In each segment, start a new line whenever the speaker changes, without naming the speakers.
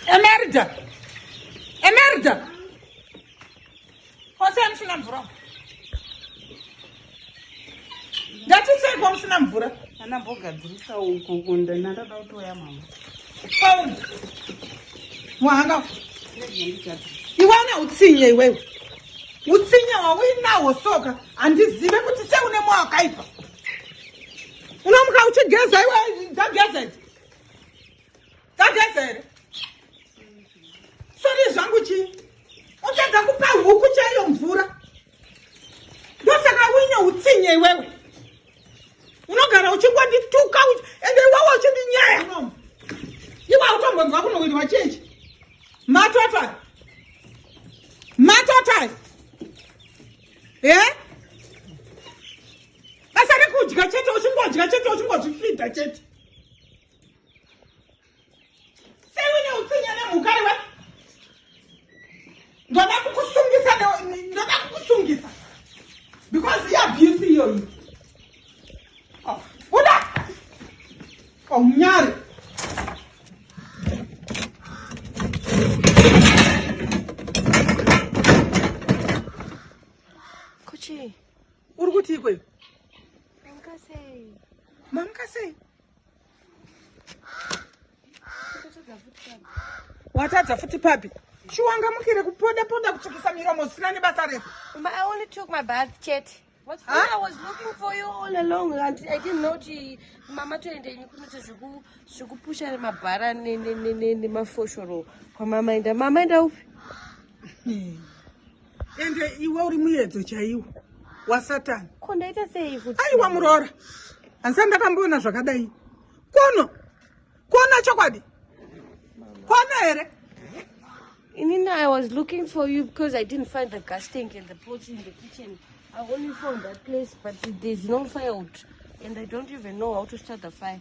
Emerda! Emerda! Kwase amusina mvura. Ndati sei kwamusina mvura? Ana mbogadzirisa
uko kunda nandada kutoya mama. Pauni.
Mwanga. Iwana utsinye iwewe. Utsinye wauinawo soka handizive kuti seune mwa wakaipa. Unomuka uchigeza iwe dzageza idzi. Dzageza here? Sori zvangu chii? Uchadza kupa huku chaiyo mvura. Ndosaka uine utsinye iwewe. unogara uchingondituka ende iwawa uchindinyaya iwa utombonzwa kunoitwa chechi matota matota e eh? basa rekudya chete uchingodya chete uchingozvifidha chete sewine utsinya nemhuka iwe ndoda kukusungisa ndoda kukusungisa because iabuse iyoyi oh, buda aunyari oh,
Kuchi. Uri kuti
ikweyo? Mamkasei. Mamkasei? watadza futi papi chiwanga mukire kupoda poda kutsvukisa miromo zvisina
nebasa refu mama toendenyi kunoita zvekupusha mabhara nemafoshoro kwamama enda mama enda upi
ende iwe uri muyedzo chaiwo wasatani ko ndaita sei
kuti aiwa muroora
handisati ndakamboona zvakadai kono kono chokwadi kono here
inini i was looking for you because i didn't find the gas tank and the pots in the kitchen i only found that place but there's no fire out and i don't even know how to start the fire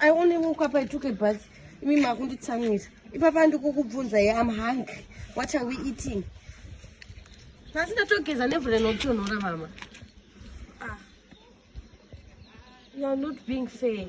I only woke up, I took a bath. Imi makunditsamwira. Ipapa ndikukubvunza here I'm hungry. What are we eating? Nhasi ndatogeza nevhu rinotonhora mama. Ah. You are not being fair.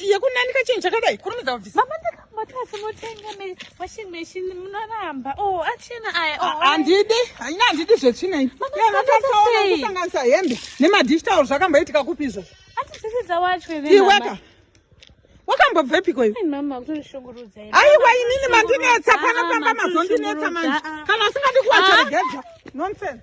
yekunanika chinhu chakadai kurumidza
kubvisa handidi
haina handidi
zvetsvinei kusanganisa hembe nemadish tauro zvakamboitika kupi izvozvo
iweka
wakambobvepiko iwe
aiwa inini
mandinetsa panopamba mazondinetsa manje kana usingadi kuwacharegedza nonsense